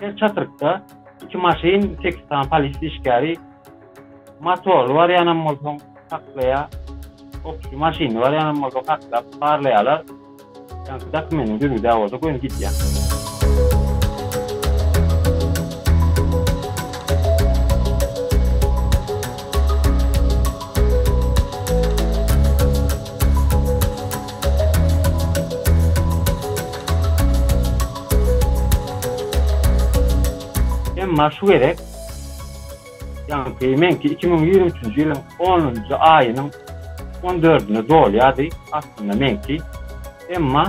Her çatrykda iki maşyn, sekiz sany polisiýa işgäri, motorly barýanam bolsaň saklaýar, okçy maşynly barýanam bolsaň saklap, barlaýarlar. Ýaňky dokumentiň düzgüdä bolsa göni gidýär. Emma şu gezek, ýaňky meňki iki müň ýigrimi üçünji ýylyň onunjy aýynyň on dördüne dolýardy, aslynda meňki. Emma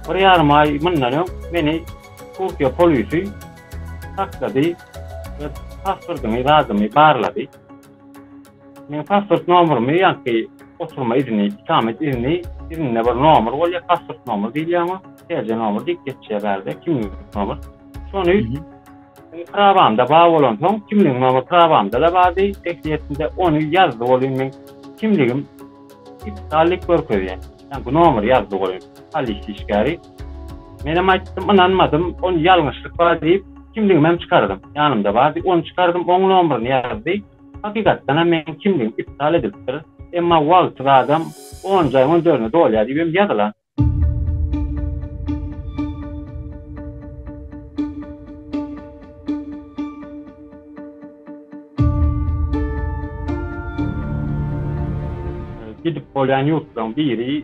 bir ýarym aý mundan öň meni Türkiýe polisi saklady we paspordymy, zadymy barlady. Meň pasport nomerymy ýaňky oturma izni, ikamet izni izninde bir nomer bolýar, pasport nomer diýilýär oňa, TC nomer diýip geçýär bärde, kimlik nomer. Şony prawamda bar bolansoň, kimlik nomer prawamda-da bardy, resmiýetinde ony ýazdy welin meň kimligim iptal diýip görkezýär. Ýaňky nomeri ýazdy welin polisiýa işgäri. Menem aýtdym, ynanmadym, ony ýalňyşlyk bar diýip, kimligimem çykardym. Ýanymda bardy, ony çykardym, oň nomerini ýazdy. Hakykatdan hem meniň kimligim iptal edilipdir, emma wagty zadam on jaýyň on dördüne dolýar diýibem ýazylan. Gidip bolýan ýurtlaryň biri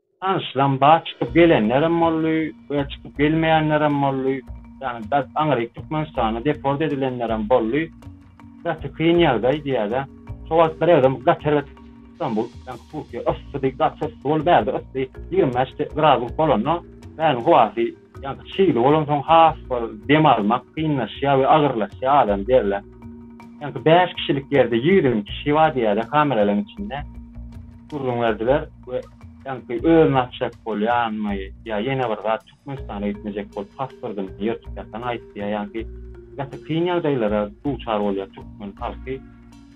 Tanyşlaryň bar, çykyp gelenlerem boldy we çykyp gelmeýänlerem boldy. Ýagny bert aňryk Türkmenistana deport edilenlerem boldy. Gaty kyn ýagdaý diýäýdä. Şo wagt birezem gaty erbet Stambul, ýagny Türkiýe yssydy, gaty yssy boldy. Bärde yssy ýigrimi bäş gradusluk bolanda bäriň howasy Ýa-da çygly bolansoň has bir dem almak kynlaşýar we agyrlaşýar adam derler. Ýa-da bäş kişilik ýerde ýigrimi iki kişi bar diýýärler kameralaryň içinde. Gürrüň berdiler we ýa-da özüni atjak bolýarmy ýa ýene bir zat Türkmenistana gitmejek bolup pasportyny ýyrtyp ýatan aýtýar. Ýa-da gaty kyn ýagdaýlara duçar bolýar türkmen halky.